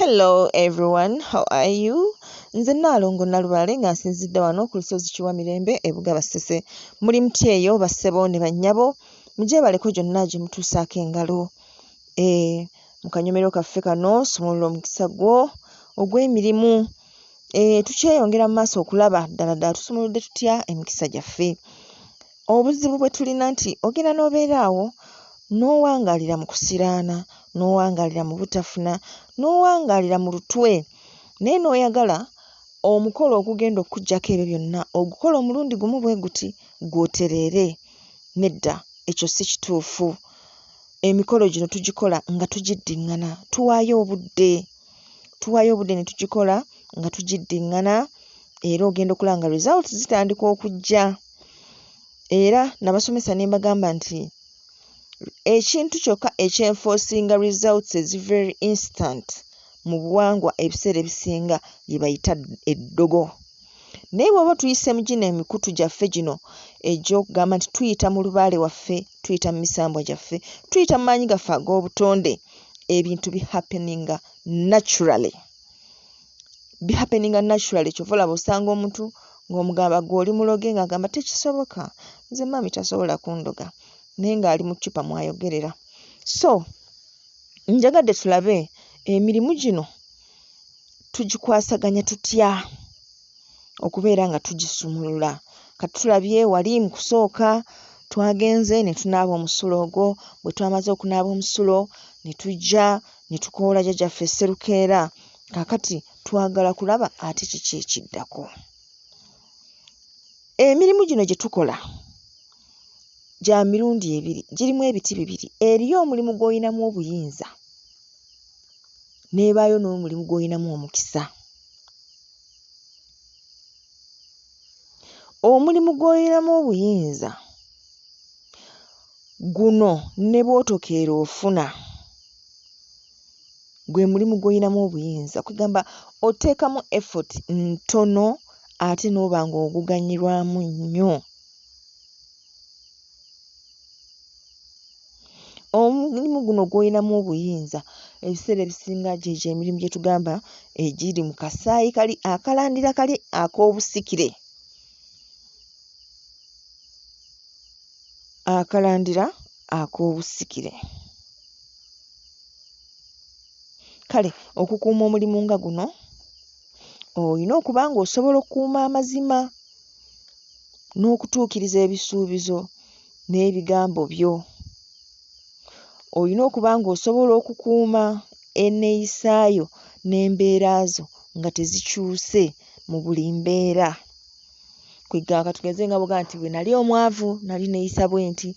Hello everyone, how are you? Nze Nnaalongo Nalubaale nga nsinzidde wano ku lusozi Kiwamirembe e Bugabasese. Muli mutya eyo bassebo ne bannyabo? Mugyebaleko gyonna gye mutuusaako engalo. Eh, mu kanyomero kaffe kano sumulula omukisa gwo ogw'emirimu. Eh, tukyeyongera mu maaso okulaba ddala ddala tusumuludde tutya emikisa gyaffe. Obuzibu bwe tulina nti ogenda n'obeera awo n'owangaalira mu kusiraana, n'owangaalira mu butafuna, n'owangaalira mu lutwe naye n'oyagala omukolo ogugenda okukuggyako ebyo byonna ogukole omulundi gumu bwe guti ggwe otereere. Nedda, ekyo si kituufu. Emikolo gino tugikola nga tugiddiŋŋana, tuwaayo obudde. Tuwaayo obudde ne tugikola nga tugiddiŋŋana era ogenda okulaba nga results zitandika okujja. era nabasomesa ne mbagamba nti ekintu kyokka ekyenfoosinga results ezi very instant mu buwangwa ebiseera ebisinga lye bayita eddogo naye bw'oba tuyise mu gino emikutu gyaffe gino egy'okugamba nti tuyita mu lubaale waffe tuyita mu misambwa gyaffe tuyita mu maanyi gaffe ag'obutonde ebintu bihappeninga naturally bi happening naturally kyova olaba osanga omuntu ng'omugamba gwe oli muloge ng'agamba tekisoboka nze maami tasobola kundoga naye ng'ali mu ccupa mwayogerera so njagadde tulabe emirimu gino tugikwasaganya tutya okubeera nga tugisumulula kati tulabye wali mu kusooka twagenze ne tunaaba omusulo ogwo bwe twamaze okunaaba omusulo ne tujja ne tukoola jjajjaffe Sserukeera kaakati twagala kulaba ate kiki ekiddako emirimu gino gye tukola gya mirundi ebiri girimu ebiti bibiri eriyo omulimu gw'olinamu obuyinza n'ebaayo n'omulimu gw'olinamu omukisa. Omulimu gw'oyinamu obuyinza guno ne bw'otokeera ofuna, gwe mulimu gw'oyinamu obuyinza. Kwegamba oteekamu effort ntono ate n'oba ng'oguganyulwamu nnyo. Omulimu guno gw'olinamu obuyinza ebiseera ebisinga gyegyo emirimu gye tugamba egiri mu kasaayi kali akalandira kali ak'obusikire akalandira ak'obusikire. Kale okukuuma omulimu nga guno... olina okuba ng'osobola okukuuma amazima n'okutuukiriza ebisuubizo n'ebigambo byo. Olina okuba ng'osobola okukuuma enneeyisa yo n'embeera zo nga tezikyuse mu buli mbeera. Kwegamba tugeze nga bw'ogamba nti bwe nali omwavu nali neeyisa bwenti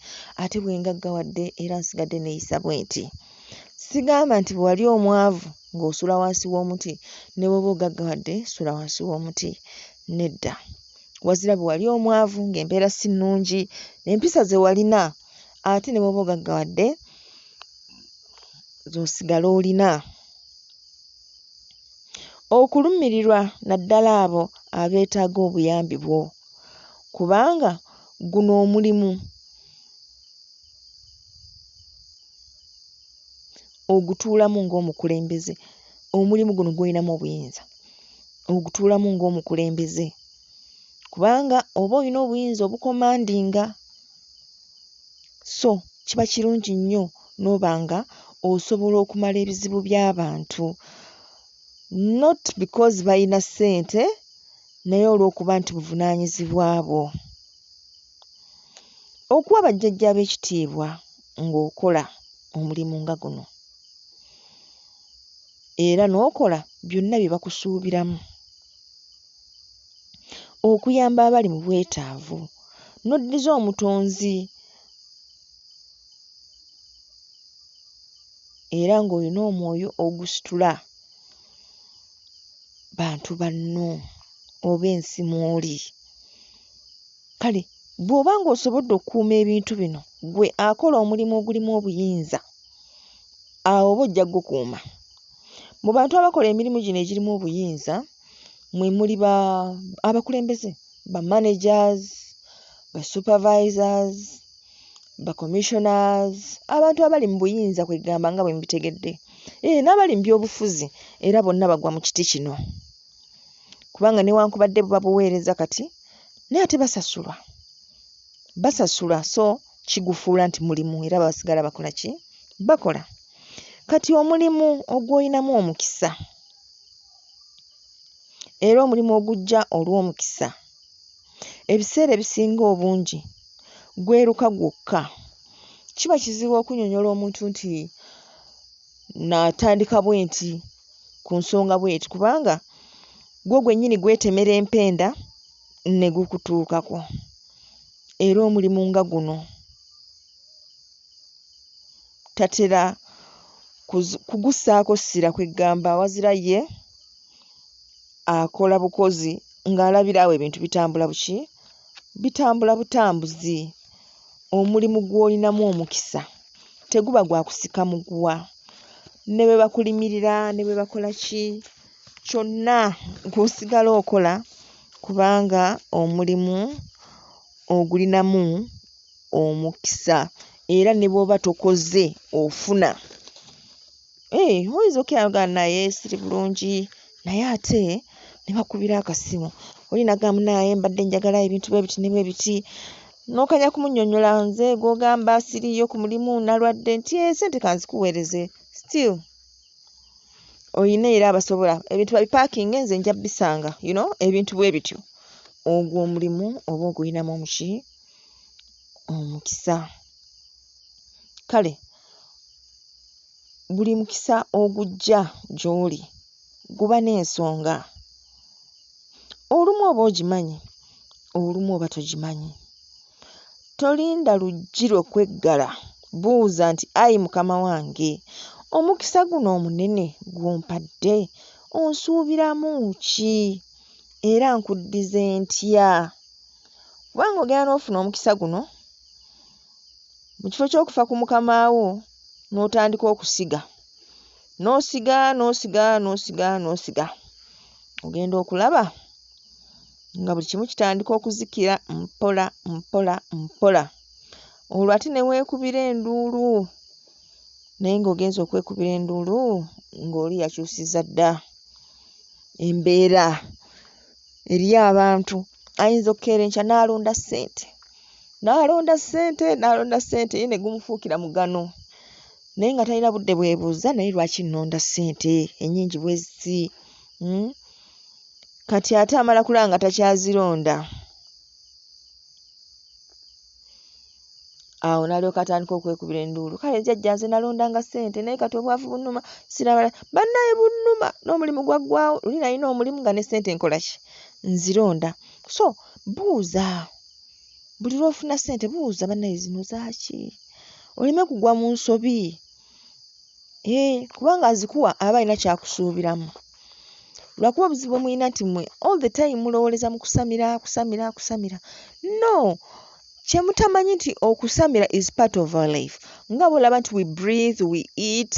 ate bwe ngaggawadde era nsigadde neeyisa bwenti. Sigamba nti bwe wali omwavu ng'osula wansi w'omuti ne bw'oba ogaggawadde sula wansi w'omuti nedda wazira bwe wali omwavu ng'embeera si nnungi empisa ze walina ate ne bw'oba ogaggawadde z'osigala olina okulumirirwa naddala abo abeetaaga obuyambi bwo kubanga guno omulimu ogutuulamu ng'omukulembeze omulimu guno gw'olinamu obuyinza ogutuulamu ng'omukulembeze kubanga oba olina obuyinza obukomandinga so kiba kirungi nnyo n'oba nga osobola okumala ebizibu by'abantu not because balina ssente naye olw'okuba nti buvunaanyizibwa bwo. Okuwa bajjajjaabe ekitiibwa. ng'okola omulimu nga guno era n'okola byonna bye bakusuubiramu okuyamba abali mu bwetaavu n'oddiza omutonzi era ng'olina omwoyo ogusitula bantu banno oba ensi mw'oli. Kale bw'oba ng'osobodde okukuuma ebintu bino, ggwe akola omulimu ogulimu obuyinza, awo oba ojja gukuuma. Mu bantu abakola emirimu gino egirimu obuyinza mwe muli ba abakulembeze, ba managers, ba supervisors, ba commissioners, abantu abali mu buyinza kwe ggamba nga bwe mubitegedde, ee n'abali mu byobufuzi era bonna bagwa mu kiti kino. kubanga newankubadde buba buweereza kati naye ate basasulwa basasulwa so kigufuula nti mulimu era basigala bakola ki bakola kati omulimu ogwolinamu omukisa era omulimu ogujja olw'omukisa ebiseera ebisinga obungi gweruka gwokka kiba kizibu okunyonyola omuntu nti natandika bwenti ku nsonga bweti kubanga gwo gwennyini gwetemera empenda ne gukutuukako era omulimu nga guno tatera kuzi kugussaako ssira kweggamba wazira ye akola bukozi ng'alabira awo ebintu bitambula buki. bitambula butambuzi, omulimu gw'olinamu omukisa teguba gwa kusika muguwa ne bwe bakulimirira ne bwe bakola ki kyonna gw'osigala okola kubanga omulimu ogulinamu omukisa era ne bw'oba tokoze ofuna. Eeh oyinza okukira n'ogamba naye siri bulungi naye ate ne bakubira akasimu oli n'agamba munaaye mbadde njagala ebintu bwe biti ne bwe biti n'okanya kumunnyonnyola nze gw'ogamba siriiyo ku mulimu nalwadde nti ee eh, ssente ka nzikuweereze still olina era abasobola ebintu babipaakinge nze nja bisanga you know ebintu bwe bityo ogwo omulimu oba ogulinamu omuki omukisa kale Buli mukisa ogujja gy'oli guba n'ensonga. Olumu oba ogimanyi, olumu oba togimanyi. Tolinda luggi lwo kweggala, buuza nti, Ayi Mukama wange, omukisa guno omunene gw'ompadde onsuubiramu ki era nkuddize ntya? Kubanga ogenda n'ofuna omukisa guno. Mu kifo ky'okufa ku mukama wo n'otandika okusiga, n'osiga n'osiga n'osiga n'osiga, ogenda okulaba nga buli kimu kitandika okuzikira mpola mpola mpola. Olwo ate ne weekubira enduulu naye ng'ogenze okwekubira enduulu ng'oli yakyusizza dda embeera. eri abantu ayinza okukeera enkya n'alonda ssente n'alonda ssente n'alonda ssente ye ne gumufuukira mugano naye nga talina budde bwebuuza naye lwaki nnonda ssente ennyingi bwe ziti hmm? kati ate amala kulaba nga takyazironda awo nalyoka atandika okwekubira enduulu kale jajja nze nalondanga ssente naye kati obwavu bunuma sirabala bannaye bunuma n'omulimu gwaggwawo luli nalina omulimu nga ne ssente nkola ki nzironda so buuza buli lwofuna ssente buuza bannaye zino zaaki oleme kugwa mu nsobi Eeh, kubanga azikuwa aba alina kyakusuubiramu. Lwakuba obuzibu bwe mulina nti mmwe all the time mulowooleza mu kusamira, kusamira, kusamira. No! Kye mutamanyi nti okusamira is part of our life. Nga bw'olaba nti we breathe, we eat,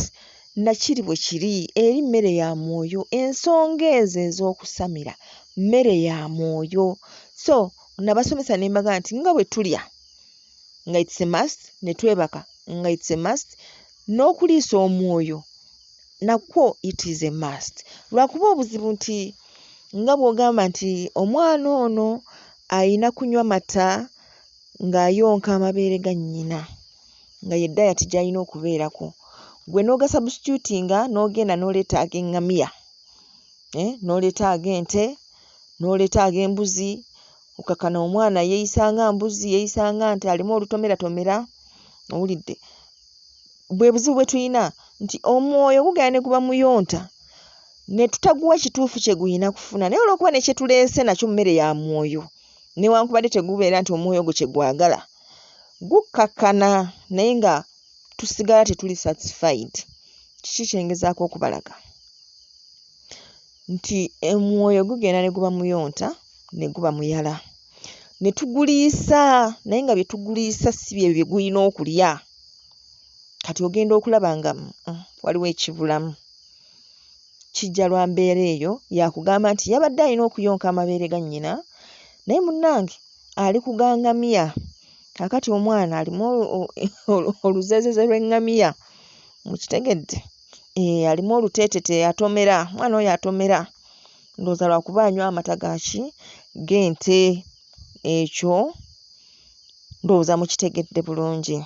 na kiri bwe kiri, eri mmere ya mwoyo. Ensonga ezo ez'okusamira mmere ya mwoyo. So, nabasomesa ne mbagamba nti nga bwe tulya, nga it's a must ne twebaka nga it's a must n'okuliisa omwoyo nakwo it is a must lwakuba obuzibu nti nga bw'ogamba nti omwana ono ayina kunywa mata ng'ayonka amabeere ga nnyina nga ye dayati gy'alina okubeerako gwe n'ogasubstitutinga n'ogenda n'oleeta ag'eŋŋamiya eh, n'oleeta ag'ente n'oleeta ag'embuzi okakana omwana yeyisa nga mbuzi yeyisa nga nti alimu olutomeratomera owulidde bwe buzibu bwe tulina nti omwoyo gugenda ne guba muyonta ne tutaguwa kituufu kye guyina kufuna naye olwokuba ne kyetuleese nakyo mmere ya mwoyo newankubadde tegubeera nti omwoyo ogwo kye gwagala gukkakkana naye nga tusigala tetuli satisfied kiki kyengezaako okubalaga nti omwoyo gugenda ne guba muyonta ne guba muyala ne tuguliisa naye nga bye tuguliisa si bye bye gulina okulya. Kati ogenda okulaba nga mm, waliwo ekibulamu. Kijja lwa mbeera eyo yakugamba nti yabadde alina okuyonka amabeere ga nnyina naye munnange ali ku ga ngamiya. Kaakati omwana alimu olu- olu- oluzeezeze lw'eŋŋamiya. Mukitegedde? Eeh alimu oluteetete atomera, omwana oyo atomera ndowooza lwakuba anywa amata ga ki g'ente ekyo ndowooza mukitegedde bulungi.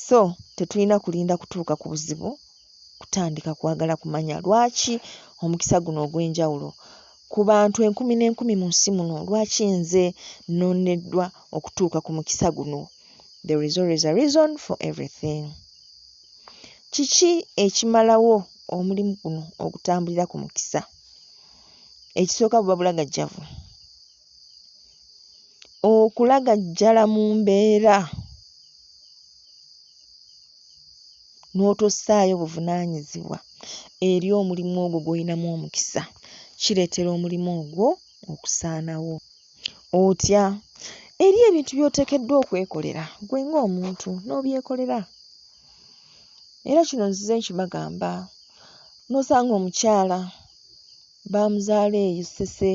So tetulina kulinda kutuuka ku buzibu kutandika kwagala kumanya lwaki omukisa guno ogw'enjawulo ku bantu enkumi n'enkumi mu nsi muno lwaki nze nnondeddwa okutuuka ku mukisa guno. There is always a reason for everything. Kiki ekimalawo omulimu guno ogutambulira ku mukisa? Ekisooka buba bulagajjavu. Okulagajjala mu mbeera n'otossaayo buvunaanyizibwa eri omulimu ogwo gw'olinamu omukisa kireetera omulimu ogwo okusaanawo. Otya? Eriyo ebintu by'oteekeddwa okwekolera ggwe ng'omuntu n'obyekolera. Era kino nzize nkibagamba n'osanga omukyala baamuzaala eyo Ssese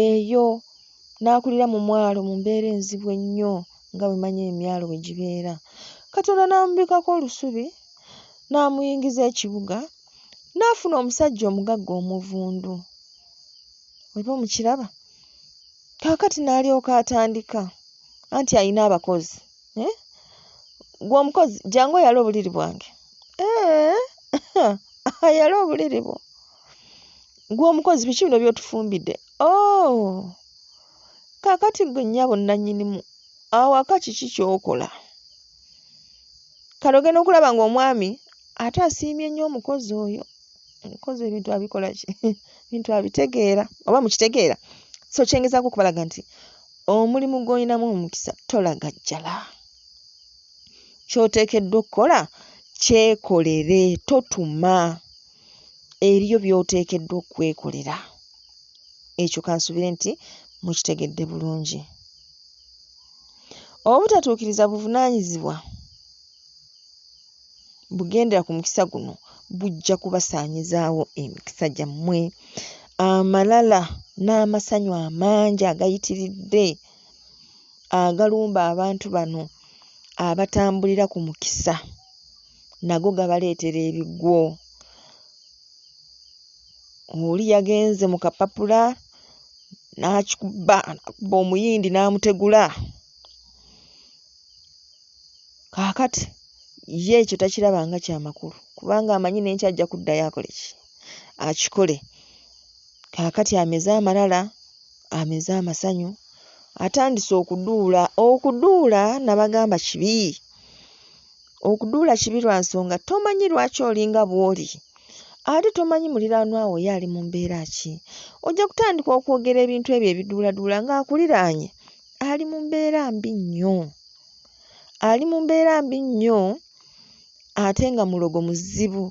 eyo n'akulira mu mwalo mu mbeera enzibu ennyo nga bwe manyi emyalo bwe gibeera. Katonda n'amubikkako olusubi n'amuyingiza ekibuga n'afuna omusajja omugagga omuvundu. Oba omukiraba? Kaakati n'alyoka atandika, anti alina abakozi. Eh? Gwe omukozi, jangu oyale obuliri bwange. Eh? Ayale obuliri bwo. Gwe omukozi, biki bino by'otufumbidde? Oh! Kaakati gwe nnyabo nnannyinimu, awaka kiki ky'okola? Kale ogenda okulaba ng'omwami ate asiimye nnyo omukozi oyo. Abikoze ebintu abikola ki? Ebintu abitegeera oba mukitegeera? So kye ngezaako okubalaga nti omulimu gw'olinamu omukisa tolagajjala. Ky'oteekeddwa okukola kyekolere, totuma. Eriyo by'oteekeddwa okwekolera. Ekyo ka nsuubire nti mukitegedde bulungi. Obutatuukiriza buvunaanyizibwa. bugendera ku mukisa guno bujja kubasaanyizaawo emikisa gyammwe amalala n'amasanyu amangi agayitiridde agalumba abantu bano abatambulira ku mukisa nago gabaleetera ebigwo oli yagenze mu kapapula n'akikuba omuyindi n'amutegula. Kaakati, ye ekyo takiraba nga kya makulu, kubanga amanyi n'enkya ajja kuddayo akole ki? Akikole. Kaakati ameze amalala, ameze amasanyu, atandise okuduula. Okuduula, nnabagamba, kibi. Okuduula kibi lwa nsonga tomanyi lwaki oli nga bw'oli. Ate tomanyi muliraanwa wo ye ali mu mbeera ki. Ojja kutandika okwogera ebintu ebyo ebiduuladuula ng'akuliraanye. ali mu mbeera mbi nnyo, ali mu mbeera mbi nnyo ate nga mulogo muzibu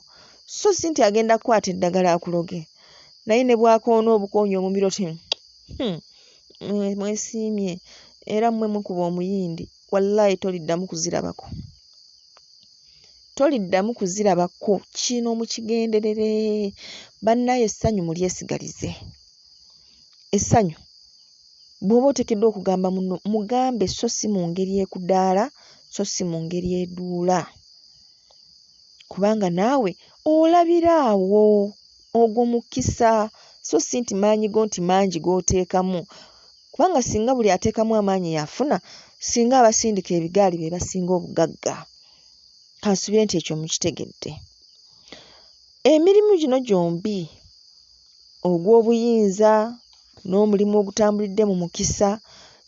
so si nti agenda kukwata eddagala akuloge naye ne bw'akoona obukoonyi omubiri oti hmm, hmm, mwesiimye era mmwe mukuba omuyindi wallaahi toliddamu kuzirabako toliddamu kuzirabako kino mukigenderere bannaye essanyu mulyesigalize essanyu Bw'oba oteekeddwa okugamba munno, mugambe sso si mu ngeri ekudaala so si mu ngeri eduula. Kubanga naawe olabira awo. Ogwo mukisa so si nti maanyi go nti mangi g'oteekamu kubanga singa buli ateekamu amaanyi y'afuna, singa abasindika ebigaali be basinga obugagga. Kansubire nti ekyo mukitegedde. Emirimu gino gyombi. ogw'obuyinza n'omulimu ogutambulidde mu mukisa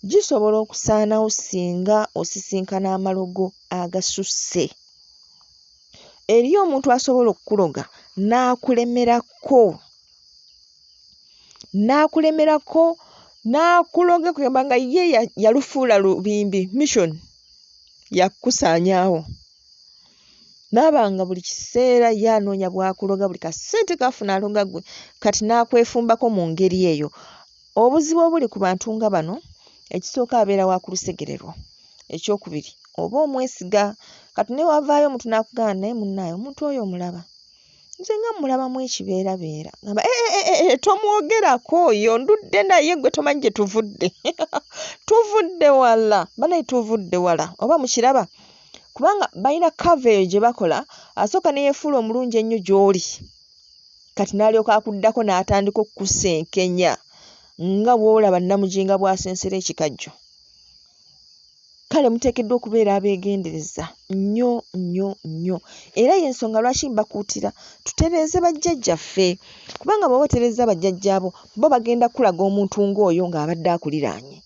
gisobola okusaanawo singa osisinkana amalogo agasusse. Eriyo omuntu asobola okukuloga n'akulemerako, n'akulemerako n'akuloga kugamba nga ye yalufuula lubimbi, mission, yakukusaanyaawo. Naabanga buli kiseera ye anoonya bwakuloga buli kasente kafuna aloga gwe kati naakwefumbako mu ngeri eyo. Obuzibu obuli ku bantu nga bano ekisooka abeera wa kulusegererwa, ekyokubiri oba omwesiga kati newavaayo omuntu naakugamba naye munnaaye omuntu oyo omulaba? Nze nga mmulabamu ekibeerabeera ngamba ee eh, eh, eh, tomwogerako oyo ndudde naye gwe tomanyi gye tuvudde tuvudde wala banaye tuvudde wala oba mukiraba kubanga balina kava eyo gye bakola asooka ne yeefuula omulungi ennyo gy'oli kati n'alyoka akuddako n'atandika okukusenkenya nga bw'olaba nnamuginga bw'asensera ekikajjo kale muteekeddwa okubeera abeegendereza nnyo nnyo nnyo era y'ensonga lwaki mbakuutira tutereeze bajjajjaffe kubanga bw'oba otereeza bajjajjaabo bo bagenda kukulaga omuntu ng'oyo ng'abadde akuliraanye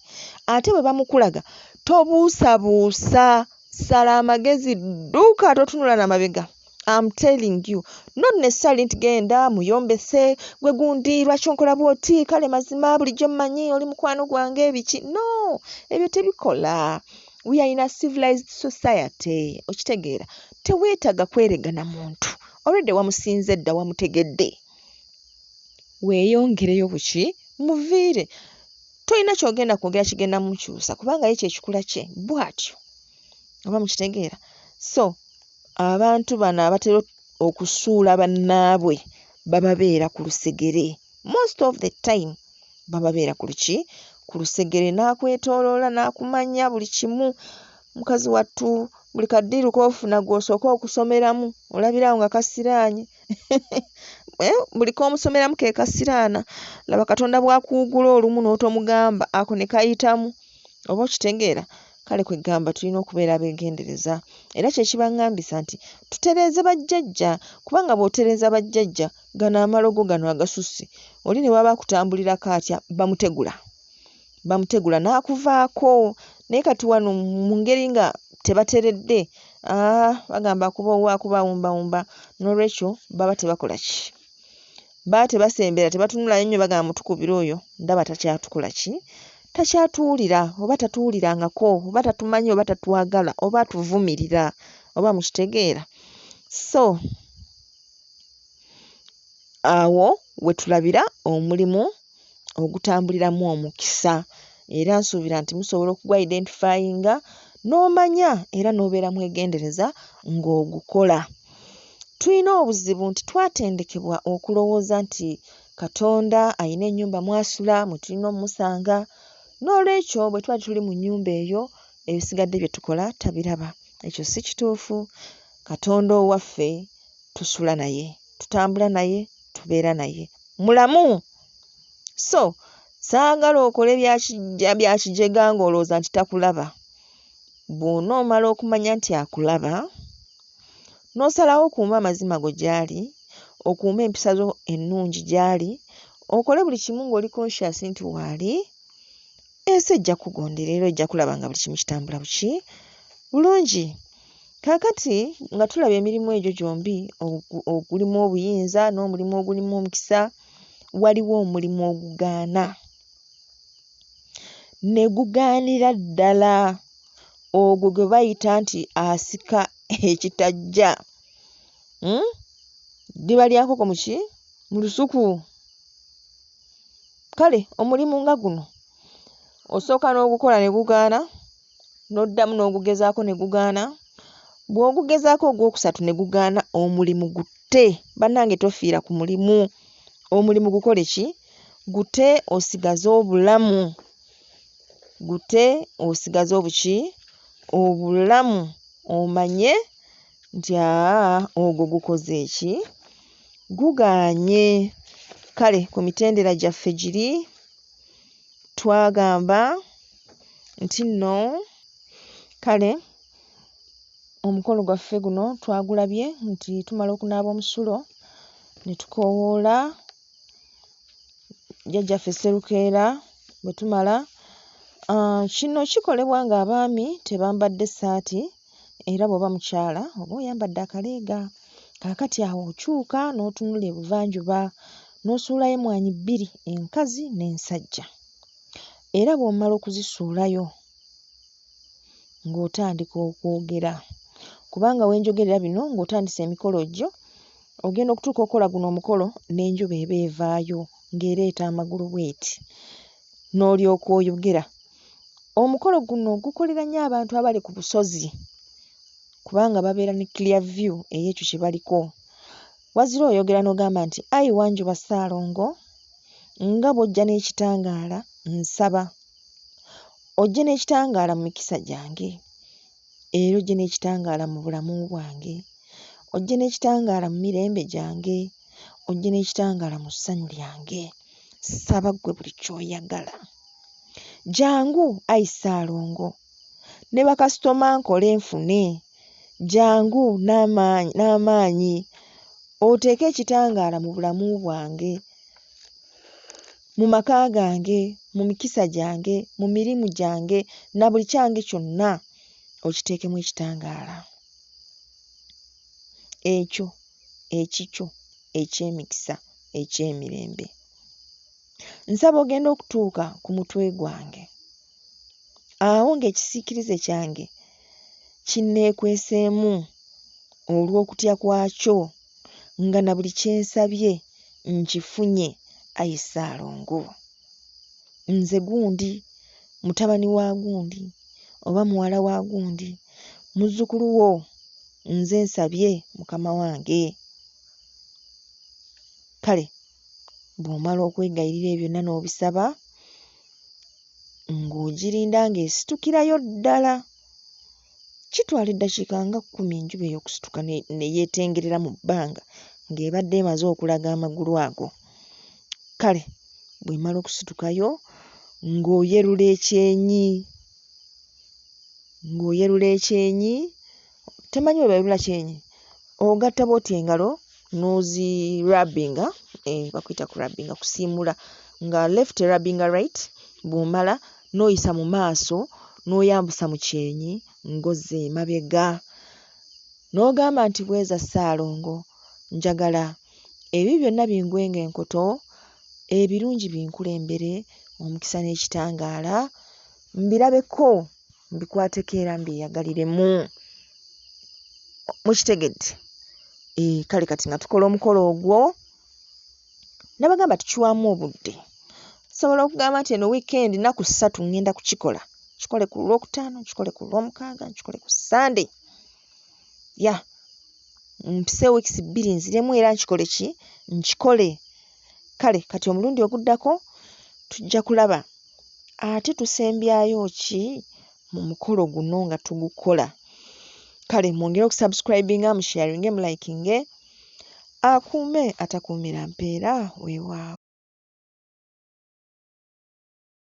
ate bwe bamukulaga tobuusabuusa sala amagezi dduuka totunula na mabega am telling you nonne sali nti genda muyombese gwe gundi lwaki onkola bwoti kale mazima bulijjo mmanyi oli mukwano gwange ebiki no ebyo tebikola we are in a civilized society okitegeera teweetaaga kweregana muntu olwedde wamusinze dda wamutegedde weeyongereyo buki muviire tolina kyogenda kwogera kigenda mukyusa kubanga ye kyekikula kye bwatyo oba mukitegeera so abantu bano abatera okusuula bannaabwe bababeera ku lusegere most of the time bababeera ku luki ku lusegere n'akwetooloola n'akumanya buli kimu mukazi wattu buli kaddiiru k'ofuna gw'osooka okusomeramu olabirawo nga kasiraanye eh, buli komusomeramu kekasiraana laba katonda bwakuwugula olumu n'otomugamba ako ne kayitamu oba okitegeera kale kwegamba tulina okubeera begendereza era kyekibangambisa nti tutereeze bajjajja kubanga bwotereeza bajjajja gano amalogo gano agasusse oli ne waba akutambulirako atya bamutegula bamutegula n'akuvaako naye kati wano mu ngeri nga tebateredde ah, bagamba akuba owa akuba awumbawumba n'olwekyo baba tebakola ki baba tebasembera tebatunulayo nnyo bagamba mutukubira oyo ndaba takyatukola ki takyatuwulira oba tatuwulirangako oba tatumanyi oba tatwagala oba atuvumirira oba mukitegeera so awo wetulabira omulimu ogutambuliramu omukisa era nsuubira nti musobola okugwa identifyinga n'omanya era n'obeera mwegendereza ng'ogukola. Tulina obuzibu nti twatendekebwa okulowooza nti Katonda alina ennyumba mw'asula mwe tulina omusanga, noolwekyo bwe tuba tetuli mu nnyumba eyo ebisigadde bye tukola tabiraba. Ekyo si kituufu, Katonda owaffe tusula naye. tutambula naye, tubeera naye, mulamu. So saagala okole bya ki, bya kijega ng'olowooza nti takulaba. Bw'onoomala okumanya nti akulaba, n'osalawo okuume amazima go gy'ali, okuume empisa zo ennungi gy'ali, okole buli kimu ng'oli conscious nti waali, ensi ejja kugondera era ojja kulaba nga buli kimu kitambula buki bulungi kaakati nga tulaba emirimu egyo gyombi ogulimu obuyinza n'omulimu ogulimu omukisa waliwo omulimu ogugaana ne gugaanira ddala ogwo gwe bayita nti asika ekitajja hmm? ddiba lya nkoko muki mu lusuku Kale omulimu nga guno osooka n'ogukola ne gugaana, n'oddamu n'ogugezaako ne gugaana, bw'ogugezaako ogwokusatu ne gugaana omulimu gutte. Bannange tofiira ku mulimu, omulimu gukole ki? Gutte osigaze obulamu, gutte osigaze obuki? Obulamu omanye Nti, Aa, ogwo gukoze ki? Gugaanye. Kale, ku mitendera gyaffe giri, twagamba nti nno, kale, omukolo gwaffe guno twagulabye nti tumala okunaaba omusulo, ne tukoowoola Jjajjaffe Sserukeera, bwe tumala, aa, kino kikolebwa ng'abaami tebambadde ssaati. era bw'oba mukyala oba oyambadde akaleega. Kaakati awo okyuka n'otunula ebuvanjuba n'osuulayo emmwaanyi bbiri enkazi n'ensajja era bw'omala okuzisuulayo ng'otandika okwogera kubanga we njogerera bino ng'otandise emikolo gyo ogenda okutuuka okukola guno omukolo n'enjuba eba evaayo ng'ereeta amagulu bw'eti n'olyoka oyogera Omukolo guno gukolera nnyo abantu abali ku busozi kubanga babeera ne clear view ey'ekyo kye baliko. Wazira oyogera n'ogamba nti ayi Wanjuba Ssaalongo nga bw'ojja n'ekitangaala nsaba ojje n'ekitangaala mu mikisa gyange. era ojje n'ekitangaala mu bulamu bwange, ojje n'ekitangaala mu mirembe gyange, ojje n'ekitangaala mu ssanyu lyange. Ssaba ggwe buli ky'oyagala. Jangu ayi Ssaalongo ne bakasitoma nkole nfune, jangu n'amaanyi n'amaanyi oteeke ekitangaala mu bulamu bwange. mu maka gange, mu mikisa gyange, mu mirimu gyange, na buli kyange kyonna, okiteekemu ekitangaala. Ekyo ekikyo eky'emikisa, eky'emirembe. Nsaba ogenda okutuuka ku mutwe gwange. Awo ng'ekisiikirize kyange kinneekweseemu olw'okutya kwakyo nga na buli kye nsabye nkifunye, ayi Ssaalongo. Nze gundi, mutabani wa gundi oba muwala wa gundi, muzzukulu wo, nze nsabye mukama wange. Kale. Bw'omala okwegayirira ebyo byonna n'obisaba, ng'ogirinda ng'esitukirayo ddala. Kitwala eddakiika nga kkumi enjuba eyo okusituka ne, ne yeetengerera mu bbanga ng'ebadde emaze okulaga amagulu ago. Kale bw'emala okusitukayo ng'oyerula ekyenyi, ng'oyerula ekyenyi temanyi bwe bayulula kyenyi ogatta bwoti engalo nozi rabinga eh, bakuyita ku rabinga kusiimula nga left rabinga right bwomala noyisa mu maaso noyambusa mu kyenyi ngozi emabega n'ogamba nti bweza ssaalongo njagala ebi byonna bingwenga enkoto ebirungi binkulembere omukisa n'ekitangaala mbirabeko mbikwateko era mbyeyagaliremu mukitegedde eh, kale kati nga tukola omukolo ogwo nabagamba tukiwamu obudde sobola okugamba nti eno wiikendi naku ssatu ŋŋenda kukikola kikole ku lwokutaano kikole ku lwomukaaga nkikole ku sande ya mpise wiikisi bbiri nziremu era nkikole ki nkikole kale kati omulundi oguddako tujja kulaba ate tusembyayo ki mu mukolo guno nga tugukola kale mwongere okusubscribinga musharinge mulikinge akuume atakuumira mpeera weewaawo